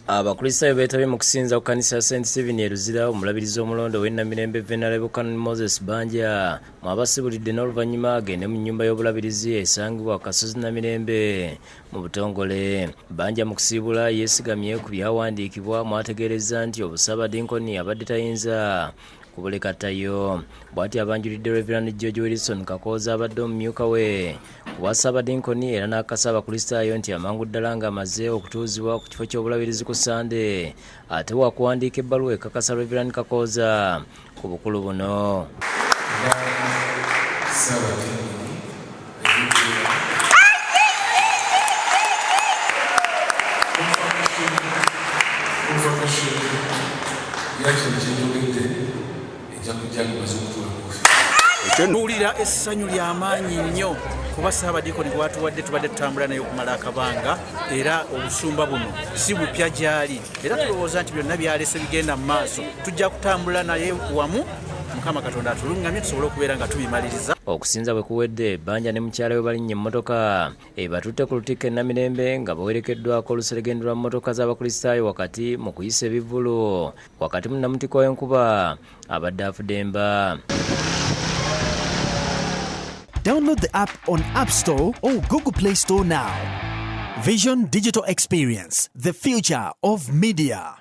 abakristaayo beetabye mu kusinza ku kanisa ya st steven e luzira omulabirizi omulonde ow'ennamirembe venala bukanon moses banja mwabasibulidde n'oluvannyuma agende mu nnyumba y'obulabirizi esangibwa ku kasozi namirembe mu butongole banja mu kusiibula yeesigamye ku byawandiikibwa mwategeerezza nti obusabadinkoni abadde tayinza kubulekatayo bwati abanjulidde reverand george wilson kakooza abadde omumyuka we Ku bwa Ssaabadinkoni era n'akasa Abakristaayo nti amangu ddala ng'amaze okutuuzibwa ku kifo ky'obulabirizi ku Ssande ate waakuwandiika ebbaluwa ekakasa Rev. Kakooza ku bukulu buno. Thank you. Tuwulira essanyu lya maanyi nnyo kuba Ssaabadiikoni gwatuwadde tubadde tutambula naye okumala akabanga era obusumba buno si bupya gyali era tulowooza nti byonna byalese bigenda mu maaso tujja kutambula naye wamu mukama katonda atulungamye tusobole okubeera nga tubimaliriza okusinza bwe kuwedde banja ne mukyala we balinnya emmotoka ebatutte ku lutikko e namirembe nga bawerekeddwako oluseregende lwa mmotoka z'abakristaayo wakati mu kuyisa ebivvulu wakati mu namutiko w'enkuba abadde afudemba Download the app on App Store or Google Play Store now. Vision Digital Experience, the future of media.